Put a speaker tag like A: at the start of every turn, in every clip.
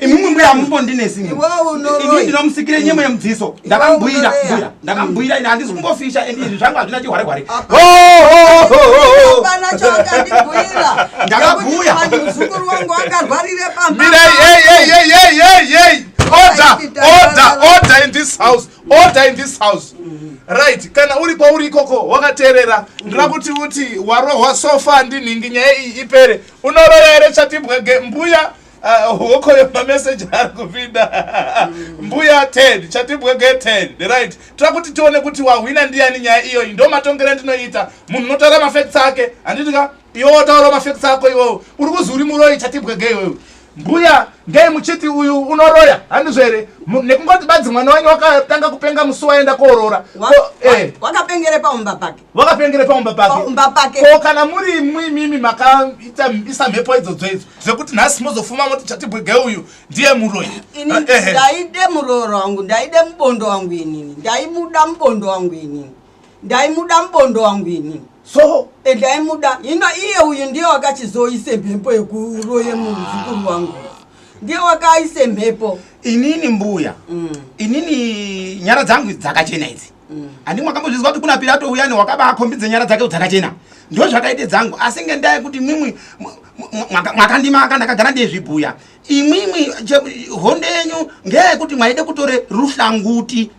A: imimi mbuya hamumbondinesi imi
B: ndinomusikire nyemo
A: yemudziso ndakamubhuira mbuya ndakamubhuira ini handisi kumbofisha and izvi zvangu hazvina chihware hware
B: ndakabhuya order
C: order order in this house order in this house right kana uri kwauri ikoko wakateerera ndira kuti uti warohwa sofa ndinhingi nyaya iyi ipere Unoroya here chatibwege mbuya uh, hokoyo mameseji ari kupinda mbuya ted chatibwege ted right tira kuti tione kuti wahwina ndiyani nyaya iyoyi ndo matongero andinoita munhu unotaura mafacts ake handiti ka iwe wotaura mafacts ako iwewe uri kuzi uri muroyi chatibwege iwewe mbuya ngei muchiti uyu unoroya handizvo here nekungoti badzi mwana wenyu wakatanga kupenga musi waenda koorora eh. wakapengere
B: pamumba pake wakapengere paumba
C: pakeumba pake ko kana muri imwi imimi makaita isa mhepo idzodzo idzo zvekuti nhasi mozofuma moti chatibwege uyu ndiye muroyi ini ah, eh, eh. ndaide
B: murooro wangu ndaide mubondo wangu inini ndaimuda mubondo wangu inini ndaimuda mubondo wangu inini so eh,
C: ndaimuda hino
B: iye uyu ndiye wakachizoise mhepo yekuroye muzukuru wangu ndiye wakaise mhepo inini mbuya
A: mm. inini nyara dzangu dzakachena idzi handimwe akambozvizwa kuti kuna pirato uyani wakabaakombidze nyara dzake dzakachena ndo zvakaite dzangu asi ngendaa yekuti imwimwi mwakandima ka ndakagara ndezvibhuya imwimwi hondo yenyu ngeyekuti mwaide kutore ruhlanguti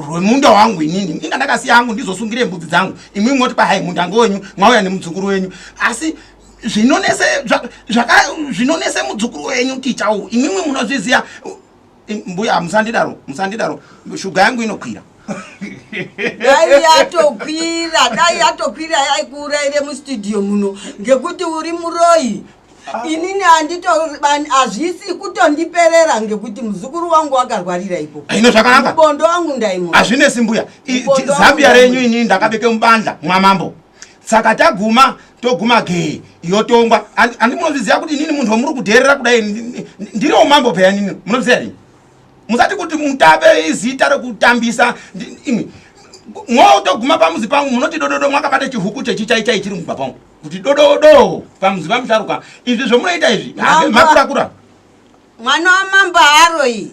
A: rwemunda wangu inini inga ndakasiya angu ndizosungire mbudzi dzangu imwimwi moti pahai munda ngowenyu mwauya nemudzukuru wenyu asi zvinonese zvinonese mudzukuru wenyu tichawo imwimwi munozviziva mbuya musandidaro musandidaro shuga yangu inokwira
B: dai yatokwira dai yatokwira yaikuuraire mustudio muno ngekuti uri muroyi ah. inini andito hazvisi kutondiperera ngekuti muzukuru wangu wakarwarira ipo ah, ino zvakanaka mubondo
A: wangu ndaimu
B: hazvinesi mbuya
A: zambia renyu inini ndakabeke mubandla mwamambo saka taguma toguma gee yotongwa andi munozviziva kuti inini munhu wamuri kudherera kudai ndiriwo mambo peya nini munozviziva rini musati kuti mutape izita rekutambisa imi mwo toguma pamuzi pangu munoti dododo mwakabata chihuku chechichaichai chiri mumba pangu kuti dododo pamuzi pamusharuka izvi zvomunoita izvi makurakura mwana
B: wamambo haaroyi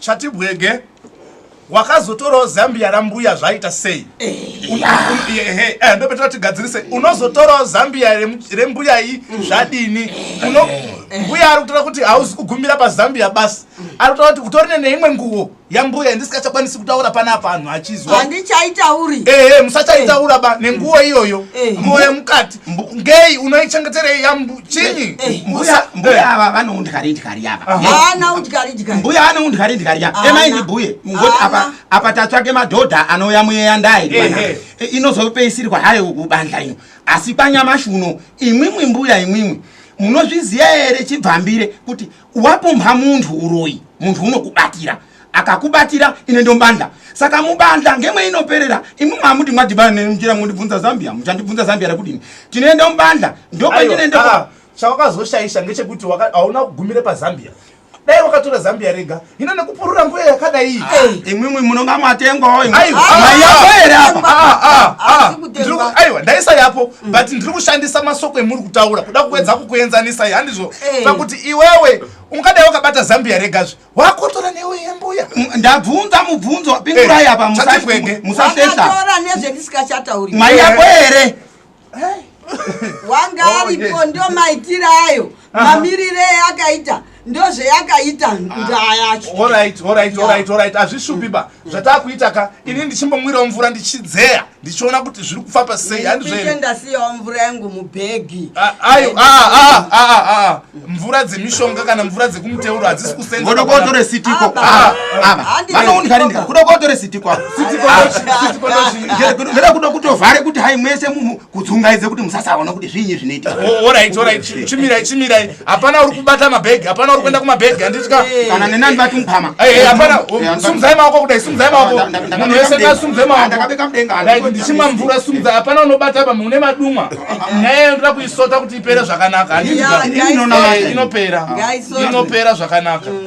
C: Chatibwege wakazotorawo zambia rambuya zvaita sei ndopetera tigadzirise unozotorawo zambia rembuya iyi zvadini mbuya ari kutora kuti hauzi kugumira pazambia basi ari kutora kuti kutorine neimwe nguwo yambuya yandisikachakwanisi kutaura panapa anhu achizwa handichaitauri
B: ehe musachaitaura
C: ba nenguwo iyoyo nguwo yemukati ngei unoichengeterei yambu chinyi eh, eh, mbuya mbuya
A: ava vano undikari ndikari yava hana undikari ndikari mbuya vano undikari ndikari yava emai ndibhuye ngoti apa apa tatsvake madhodha anouya muyeya ndai eh, inozopeisirwa hayo kubandla ino asi panyamashi uno imwimwi mbuya imwimwi munozviziva here chibvambire kuti wapumha munhu uroyi munhu unokubatira akakubatira ine ndombandla saka mubandla ngemwe inoperera imwi mwamuti mwadhibana nenjira mundibvunza zambia muchandibvunza zambia rekudini tinoenda mubandla ndokwendinende ah, chawakazoshaisha
C: ngechekuti hauna kugumire pazambia dai wakatora zambia rega hino nekupurura mbuya yakadai ah, imwimwi munonga
A: mwatengwawo maiyapo here apaaiwa
C: ndaisayapo mm. but ndiri kushandisa masoko emuri kutaura kuda kuedza kukuenzanisa handizvo pakuti iwewe ungadai wakabata zambia regazve wakotora newe yembuya ndabvunza
A: mubvunzo wapingurai eh, apa musasesaatora
B: nezvendisingachatauri mai yako here
A: wanga
B: oh, aripo ndo maitiro ayo mamirire akaita ndozveyakaita ndaa yacho
C: hazvishupiba zvatakuita ka ini ndichimbomwirawo mvura ndichidzeya ndichiona kuti zviri kufamba sei handizvendasiyawo mvura yangu
B: mubhegi ah, ayo ah, ah,
C: mvura dzemishonga kana mvura dzekumuteuro hadzisi kusengoda kotore
A: sitiko vanounikarinikakuda kotore sitiko kuda kutovhare kuti hai mwese kudzungaidze kuti musasaona kuti zviinyi zvinoitika oh, orit orit
C: chimirai chimirai hapana uri kubata mabhegi hapana uri kuenda kumabhegi handitya kana nenani vati
A: mupama eh, eh, hapana oh,
C: sumuzai maoko kudai sumuzai maoko munhu wese ngasumuzai maoko
A: ndichimwa mvura sumuzai
C: hapana unobata apa mune madumwa nyaya iyo ndoda kuisota kuti ipere zvakanaka handitya inopera inopera zvakanaka mm,